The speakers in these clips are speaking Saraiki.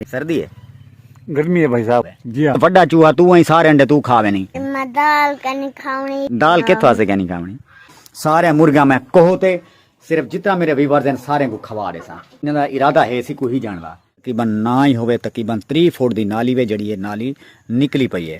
سردی ہے گرمی ہے بھائی صاحب جی ہاں وڈا چوہا تو ہیں سارے انڈے تو کھاوے نہیں میں دال کنی کھاونی دال کت واسے کنی کھاونی سارے مرغیاں میں کوہ تے صرف جتنا میرے ویورز ہیں سارے کو کھوا دے سا انہاں دا ارادہ ہے سی کوئی جان دا تقریبا نہ ہی ہوے تقریبا 30 فٹ دی نالی وے جڑی ہے نالی نکلی پئی ہے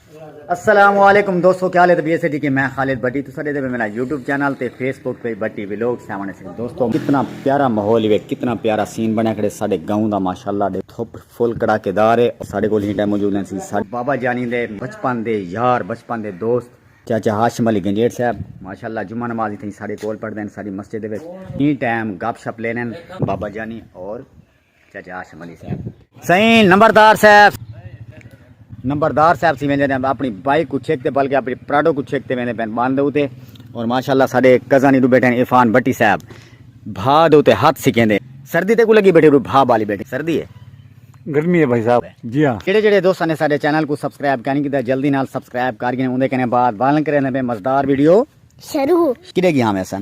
السلام علیکم دوستو کیا لے طبیعت سے جی کہ میں خالد بٹی تو سارے دے میرا یوٹیوب چینل تے فیس بک پہ بٹی ویلوگ سیونے سے دوستو کتنا پیارا ماحول ہے کتنا پیارا سین بنا کھڑے سارے گاؤں دا ماشاءاللہ دے تھوپ فل کڑا کے دار ہے سارے کو ہی ٹائم موجود ہیں سارے بابا جانی دے بچپن دے یار بچپن دے دوست چاچا ہاشم علی گنجیٹ صاحب ماشاءاللہ جمعہ نماز تھی سارے کول پڑھ دین ساری مسجد دے ہی ٹائم گپ شپ لینے بابا جانی اور سائیں نمبردار صاحب نمبردار صاحب سی ویندے ہیں اپنی بائک کو چھک تے بلکہ اپنی پراڈو کو چھک تے ویندے پین باندھ دے ہوتے اور ماشاءاللہ سارے کزانی ہی دو بیٹھے ہیں عفان بٹی صاحب بھا دے ہوتے ہاتھ سکھیں دے سردی تے کو لگی بیٹھے رو بھا بالی بیٹھے سردی ہے گرمی ہے بھائی صاحب جی ہاں جڑے جڑے دوستان نے سارے چینل کو سبسکرائب کرنے کی دا جلدی نال سبسکرائب کر گئے ہیں اندھے کہنے بعد بالن کرنے میں مزدار ویڈیو شروع کدے گی ہاں میں سن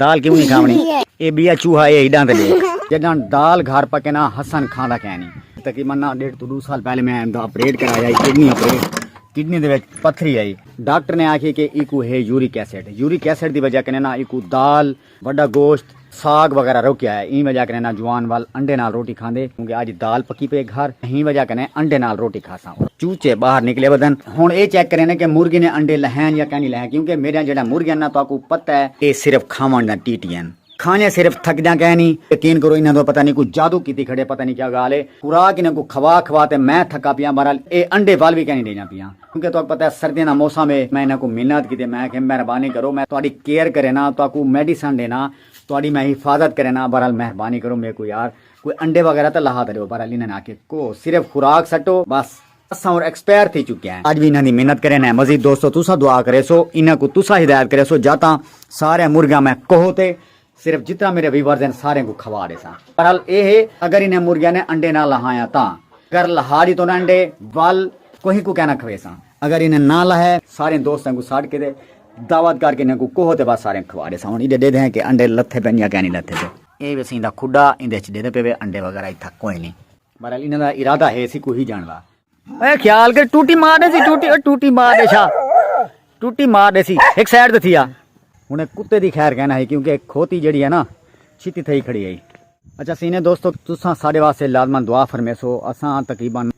دال کیوں نی کھاونی اے بیا چوہا اے ہیڈاں تے ڈیکھ۔ جڈاں دال گھر پکے نا حسن کھاندا کینی۔ تقریبا نا ڈیڈھ توں ڈو سال پہلے میں دا اپریٹ کرایا ہی کڈنی اپریٹ کڈنی دے وچ پتھری ہئی۔ ڈاکٹر نے آکھیے کہ ایکوں ہے یورک ایسڈ یورک ایسڈ دی وجہ کنے نا ایکوں دال وڈا گوشت ساگ وغیرہ روکیا ہے ایں وجہ کنے نا جوان ول انڈے نال روٹی کھاندے کیونکہ اج دال پکی پے گھر ایں وجہ کنے انڈے نال روٹی کھاساں۔ چوچے باہر نکلے ودن ہن اے چیک کرینے کہ مرغی نے انڈے لہین یا کینی لہین کیونکہ میڈیاں جیڑھا مرغی ہن نا تہاکوں پتہ ہے اے صرف کھاون دا ٹی ٹی ہن کھانے صرف تھکدیاں کینی یقین کرو انہاں دا پتہ نی کوئی جادو کیتی کھڑے پتہ نی کیا گال ہے خوراک انہاں کوں کھوا کھوا تے میں تھکا پیاں بہرحال اے انڈے ول وی کینی ڈیندیاں پیاں کیونکہ تہاکوں پتہ ہے سردیاں دا موسم ہے میں انہاں کوں منت کیتی میں آکھیا مہربانی کرو میں تہاڈی کیئر کرینا تہاکوں میڈیسن ڈینا تہاڈی میں حفاظت کرینا بہرحال مہربانی کرو میکوں یار کوئی انڈے وغیرہ تاں لہا تریو پر علی ناں آکھے کو صرف خوراک سٹو بس اساں ہن ایکسپائر تھی چکے ہیں اج وی انہاں دی محنت کرے نیں مزید دوستو تساں دعا کریسو انہاں کوں تساں ہدایت کریسو جا تاں سارے مرغیاں میں کوہ تے صرف جتنا میرے ویورز ہیں سارے کوں کھوا ڈیساں بہرحال اے ہے اگر انہاں مرغیاں نے انڈے نہ لہایاں تاں اگر لہا ڈیتو نہ انڈے ول کوہیں کوں کہنا کھویساں اگر انہاں نہ لہے سارے دوستاں کوں ساڈ کے تے دعوت کر کے انہاں کوں کوہ تے بس سارے کھوا ڈیساں ہن ایڈے ڈیدھے ہیں کہ انڈے لتھے پن یا کہنی لتھے پن۔ اے وی سئیں دا کھڈا ایندے اچ ڈیندے پے وے انڈے وغیرہ اتھا کوئ نی۔ بہرحال انہاں دا ارادہ ہے سی کوہی جان وا۔ اے خیال کر ٹوٹی مار ڈیسی ٹوٹی او ٹوٹی مار ڈیشا ٹوٹی مار ڈیسی ہک سائیڈ تے تھیا۔ ہن اے کتے دی خیر کینا ہئی کیونکہ اے کھوتی جیڑی ہے نا چھتی تھئی کھڑی ہئی۔ اچھا سینے دوستو تساں ساڈے واسطے لازما دعا فرمیسو اساں تقریبا۔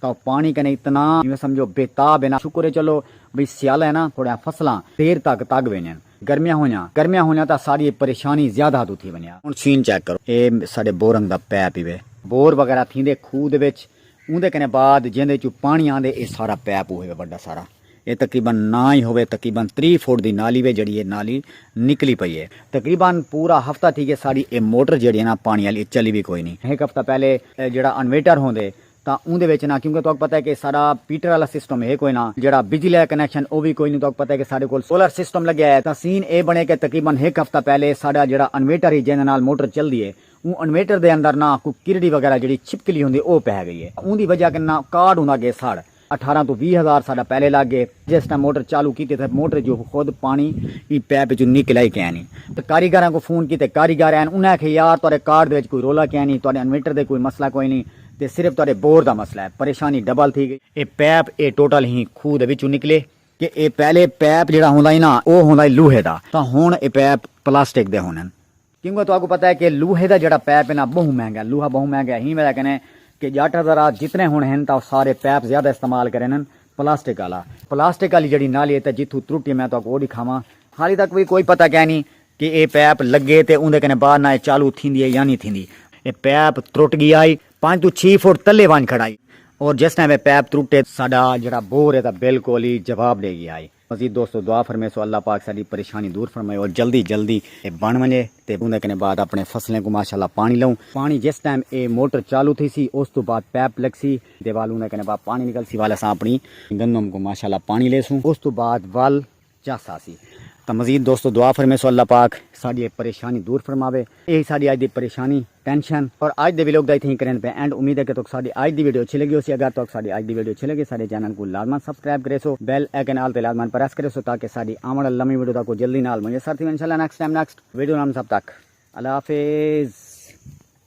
تاں پاݨی کنے اتنا جیویں سمجھو بے تاب ہن، شکر ہے چلو بھئی سیالہ ہے ناں تھوڑیاں فصلاں دیر تک تگ ویندین، گرمیاں ہونیاں گرمیاں ہونیاں تاں ساݙی اے پریشانی زیادہ توں تھی ونڄے۔ ہݨ سین چیک کرو اے ساݙے بورنگ دا پیپ ای وے۔ بور وغیرہ تھیندے کھوہ دے وچ اوندے کنے بعد جیندے چوں پاݨی آندے اے سارا پیپ اوہے وے وݙا سارا اے تقریبا نا ای ہووے تقریبا تریہہ فٹ دی نالی وے جیڑھی اے نالی نکلی پئی اے۔ تقریبا پورا ہفتہ تھی ڳیا ساݙی اے موٹر جیڑھی اے ناں پاݨی آلی اے چلی وی کوئی نی۔ ہک ہفتہ پہلے اے جیڑھا انویٹر ہوندے تاں اوندے وچ نہ کیونکہ تہاکوں پتہ ہے کہ ساڈا پیٹر آلا سسٹم ہے کوئی نہ جیہڑا بجلی آلا کنیکشن او وی کوئی نی تہاکوں پتہ ہے کہ ساڈے کول سولر سسٹم لگیا ہے تاں سین اے بنے کہ تقریبا ہک ہفتہ پہلے ساڈا جیہڑا انویٹر ہی جیندے نال موٹر چلدی ہے اوں انویٹر دے اندر نہ کوئی کرڑی وغیرہ جیہڑی چھپکلی ہوندی او پے گئی ہے اوندی وجہ کناں کارڈ ہوندا گے ساڑھ اٹھارہ توں ویہہ ہزار ساڈا پہلے لگ گے جس ٹائم موٹر چالو کیتی تاں موٹر جو خود پانڑی ایں پیپ اچوں نکل آئی کینی تاں کاریگراں کوں فون کیتے کاریگر آئن انہاں آکھیا یار تہاڈے کارڈ دے وچ کوئی رولا کینی تہاڈے انویٹر دے کوئی مسئلہ کوئی نی تے صرف تہاڈے بور دا مسئلہ ہے پریشانی ڈبل تھی گئی۔ اے پیپ اے ٹوٹل ہی کھوہ دے وچوں نکلے کہ اے پہلے پیپ جیڑھا ہوندا ہی نا او ہوندا ہی لوہے دا تاں ہن اے پیپ پلاسٹک دے ہوندن۔ کیوں کہ تہاکوں پتہ ہے کہ لوہے دا جیڑھا پیپ ہے نا بہوں مہنگا ہے، لوہا بہوں مہنگا ہے ہیں وجہ کنے کہ جٹ حضرات جتنے ہن ہن تاں او سارے پیپ زیادہ استعمال کریندن پلاسٹک آلا، پلاسٹک آلی جیڑھی نالی ہے تاں جتھوں ترٹی میں تہاکوں او ڈکھاواں۔ حالی تک وی کوئی پتہ کینی کہ اے پیپ لگے تے اوندے کنے بعد نا اے چالو تھیندی ہے یا نی تھیندی۔ اے پیپ ترٹ گیا ہئی پنج توں چھی فٹ تلے ونج کھڑا ہئی اور جس ٹائم اے پیپ ترٹے۔ ساڈا جیڑھا بور ہے تاں بالکل ہی جواب ڈے گیا ہئی۔ مزید دوستو دعا فرمیسو اللہ پاک ساڈی پریشانی دور فرمائے اور جلدی جلدی اے بن ونجے تے اوندے کنے بعد اپنے فصلیں کوں ماشاءاللہ پانی لوں پانی جس ٹائم اے موٹر چالو تھیسی اس توں بعد پیپ لگسی دے ول اوندے کنے بعد پانی نکلسی ول اساں اپنی گندم کوں ماشاءاللہ پانی لیسوں اس توں بعد ول چس آسی تاں مزید دوستو دعا فرمیسو اللہ پاک ساڈی اے پریشانی دور فرماوے۔ ایہی ساڈی اج دی پریشانی، ٹینشن اور اج دے ویلوگ دا اتھیں ہی کرینڈ پئے اینڈ امید ہے کہ تہاکوں ساڈی اج دی ویڈیو اچھی لگی ہوسی اگر تہاکوں ساڈی اج دی ویڈیو اچھی لگے ساڈے چینل کوں لازمان سبسکرائب کریسو بیل ایکن آل تے لازمان پریس کریسو تاکہ ساڈی آون والی نویں ویڈیو تہاکوں جلدی نال میسر تھیون انشاءاللہ نیکسٹ ٹائم نیکسٹ ویڈیو نال سب تک اللہ حافظ۔